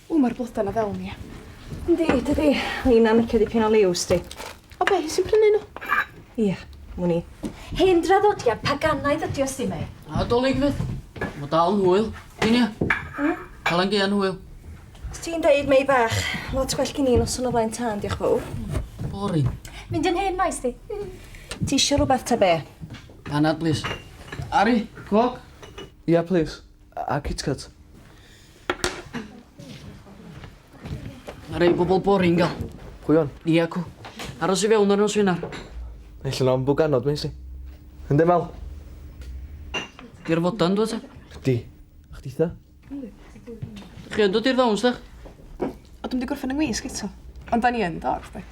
O, mae'r blodau na fewn i. Yndi, dydy. Lina yn licio dipyn o liw, sti. O be, hi sy'n prynu nhw? Ia, mwyn i. Hen draddodiad paganaidd ydi o, sti, mei. A dolyg fydd. Mae dal yn hwyl. Gyn ia. Hmm? Cael yn gyn hwyl. Os ti'n deud, mei bach, lot gwell gyn i'n noson o flaen tân, diolch fawr. Boring. Mynd yn hen maes di. Ti eisiau rhywbeth ta be? Panad plis. Ari, coc? Ia plis, a kitkat. Mae rei bobl boring gael. Pwy on? Ni acw. Aros i fewn ar nos Wener. Naill yn ambw ganod, Macy. Ynddo fel? Di'r fodan, dwi ta? Di. A chdi ta? Chi yn dod i'r ddawns, dych? O, dwi'n di gorffen yng ngwisg eto. Ond da ni yn dod, dwi.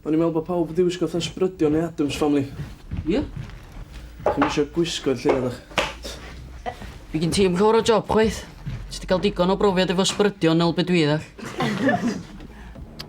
O'n i'n meddwl bod pawb wedi wisgo fatha sbrydion neu Adams Family. Ie? Chi'n misio gwisgo'r lle, ydych? Fi gyn ti am llwyr o job, chwaith. Ti wedi cael digon o brofiad efo sbrydion neu beth dwi ddech.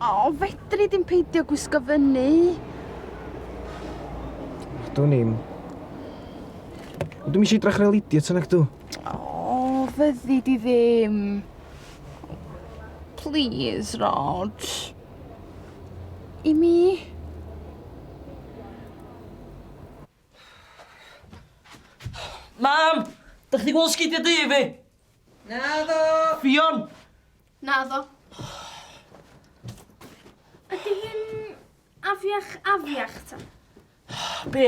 O, fedri dim peidio gwisgo fyny. Dwi'n i'n... Dwi'n eisiau drach rhaid idiot yn ac dw. O, fyddi di ddim. Please, Rod. I mi? Mam! Da chi di gweld sgidiau dy fi? Na ddo! Fion! Na ddo. Ydy hi'n afiach afiach ta? Be?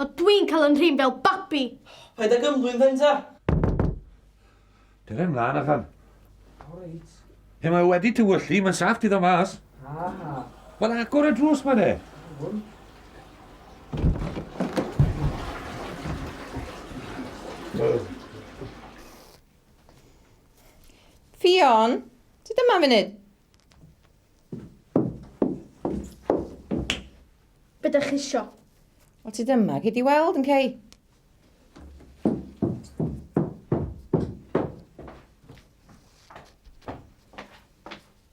A dwi'n cael 'y nhrin fel babi! Paid ag ymddwyn then ta! Dere mlan allan. O reit. Pe mae o wedi tywyllu, mae'n saff ti ddod mas. Ha ha. Wel agor y drws ma de. Iawn. Ffion, ti dyma munud. Be da chi isio? Wel ti dyma, gei di weld yn cei.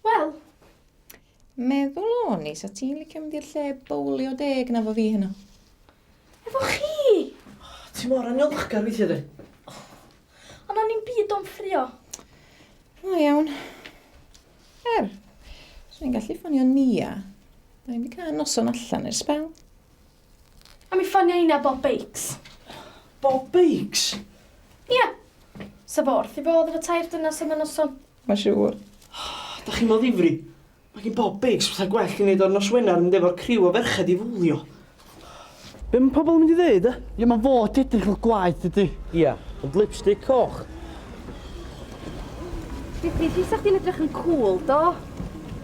Wel? Meddwl o'n i, sa ti'n licio mynd i'r lle bowlio deg na fo fi heno? Efo chi? Oh, ti mor anilchgar weithio di. Oh, ond o'n i'n byd o'n ffrio. O iawn. Er, swn i'n gallu ffonio Nia. Da ni'n cael noson allan i'r spel. A mi ffonio Ina Bob Bakes. Bob Bakes? Ia. Sa fo wrth i fodd efo tair dynas am y noson. Ma siŵr. Da chi mor ddifri. Mae gen Bob Bakes fatha gwell i wneud o'r nos Wener yn mynd efo'r criw o ferched i fowlio. Be mae pobl yn mynd i ddeud, e? Ie, mae'n fod edrych fel gwaed, dydy? Ie, ond lipstick coch. Dydy, di sa'ch di'n edrych yn cool, do?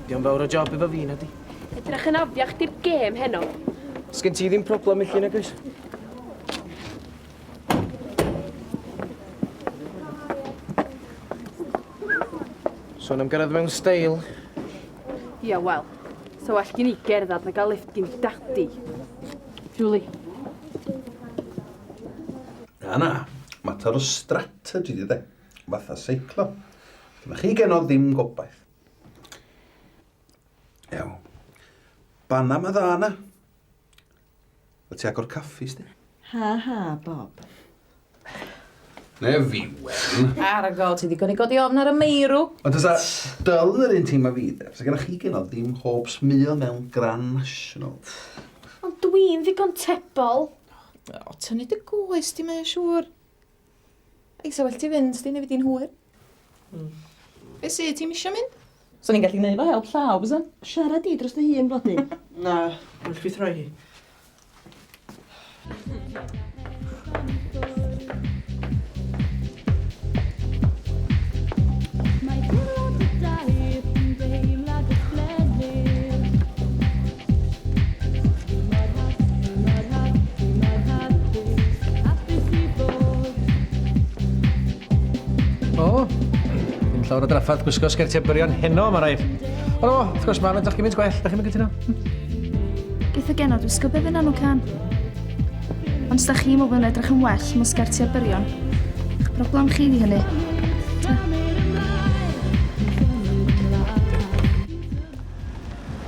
Di o'n fawr o job efo fi, na di? Edrych yn afiach di'r gêm heno. Sgyn ti ddim problem i chi, na gys? Sôn am gyrraedd mewn steil. Ia, wel, so well gen i gerdded na gael lift gen daddy. Julie. Na, na. Mater o strategy di de. Fatha seiclo. Dyna chi genodd ddim gobaith. Ew. Banna ma dda na. O ti agor caffi sti? Ha ha, Bob. Na fi, Wen. Argo, ti ddigon i godi ofn ar y meirw. Ond os a dyl yn yr un teimlo fi, de, fes gyda chi gynnal dim hopes mil mewn Grand National. Ond dwi'n ddigon tebol. O, tynnu dy goes di mae siŵr. Ei, sa well ti fynd, sdi, neu fi di'n hwyr. Mm. Be sy, ti'n misio mynd? Sa'n ni'n gallu gwneud fo help llaw, bysa? Siarad di dros dy hun, blodi. Na, dwi'n gallu throi hi. llawer o drafferth gwisgo sgertiau byrion heno, mae rhaid. Ond o, wrth gwrs, mae'n edrych gymaint gwell, da chi'n mynd gyda Beth o gen o'r wisgo beth yna nhw can? Ond da chi meddwl yn edrych yn well mewn sgertiau byrion. Eich broblem chi di hynny. Ta.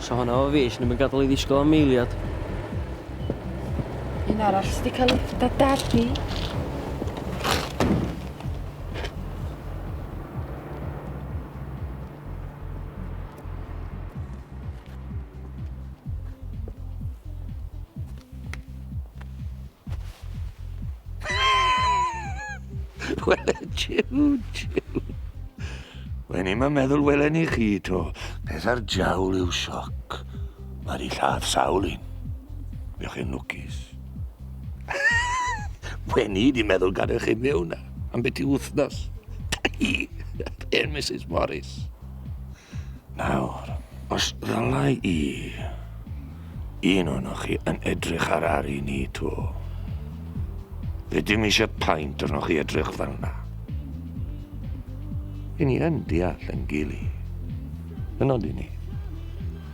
So hwnna o fi, sy'n ddim yn gadael i ddisgwyl am eiliad. Un arall sydd wedi cael ei dadadu. Wel, jiw, jiw. Wen i'n meddwl welen i chi to. Peth ar jawl yw sioc. Mae di lladd sawl un. Fe chi'n lwcus. Wen i di meddwl gadw chi mewn am beth i wythnos. Dai! Hen Mrs Morris. Nawr, os ddylai i, un o'noch chi yn edrych ar Ari ni to. Fe dim eisiau paint arnoch chi edrych fel na. Yn ni yn deall yn gili. Yn ond i ni.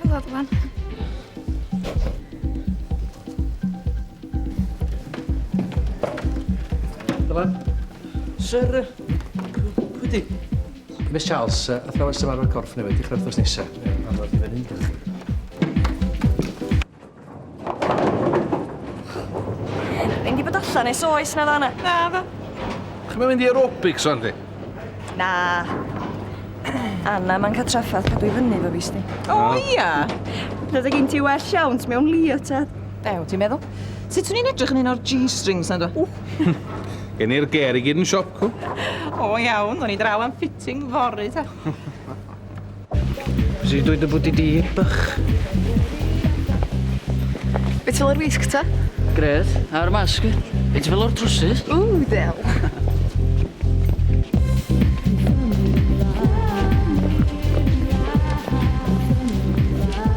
Helo, Bwan. Dylan. Sir... Pwy di? Miss Charles, uh, athrawes ymarfer corff newydd, dechrau wrthnos nesaf. Ie, arfer i fyny, diolch. Mynd i bod allan nes oes na fanna. Na, fe. Chi'n mynd i aerobics o'n di? Na. Anna, mae'n cael traffath cadw i fyny fo fi, sti. O, ia. Roedd gen ti well iawn, ti mewn lio, tad. Ew, ti'n meddwl? Sut swn i'n edrych yn un o'r G-strings na dwi? Gen i'r ger i gyd yn siop cw. O iawn, o'n i draw am fitting fory ta. Rydw i dy bwti di, bych. Be ti fel o'r wisg ta? Grêt. A'r masg? Be ti fel o'r trwsus? Ww, del.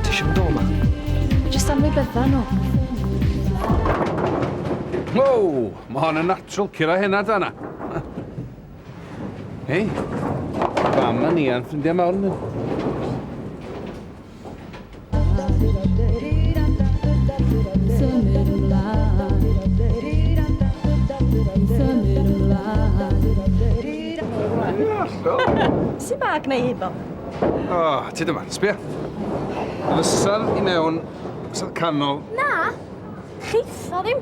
Ti eisiau mynd o ma? Jyst am ei bedda nhw. Wow! Mae hon yn natural cura hynna da na. Hei, fam a ni a'n ffrindiau mawr ni. Sy'n bag neu hifo? O, oh, ti dyma, sbio. Fysa'r i mewn, fysa'r canol. Na, chitho ddim.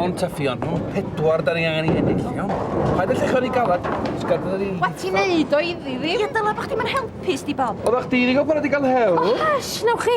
Mon Taffion, nhw'n pedwar da ni angen i ennill, iawn? Paid y llechon i galad, sgad fydda ni... Wat ti'n neud o iddi fi? Ie, dyla bod chdi'n helpu, sti Bob. Oeddech chdi wedi cael pan wedi cael hewl? O, hash, nawch chi.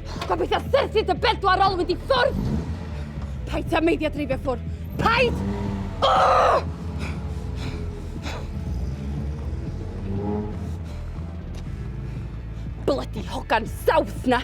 Gobeithio serthu dy bedwar ol wedi ffwrdd! Paid ti a meidia dreifio ffwr! Paid! Oh! Bloody hogan south na!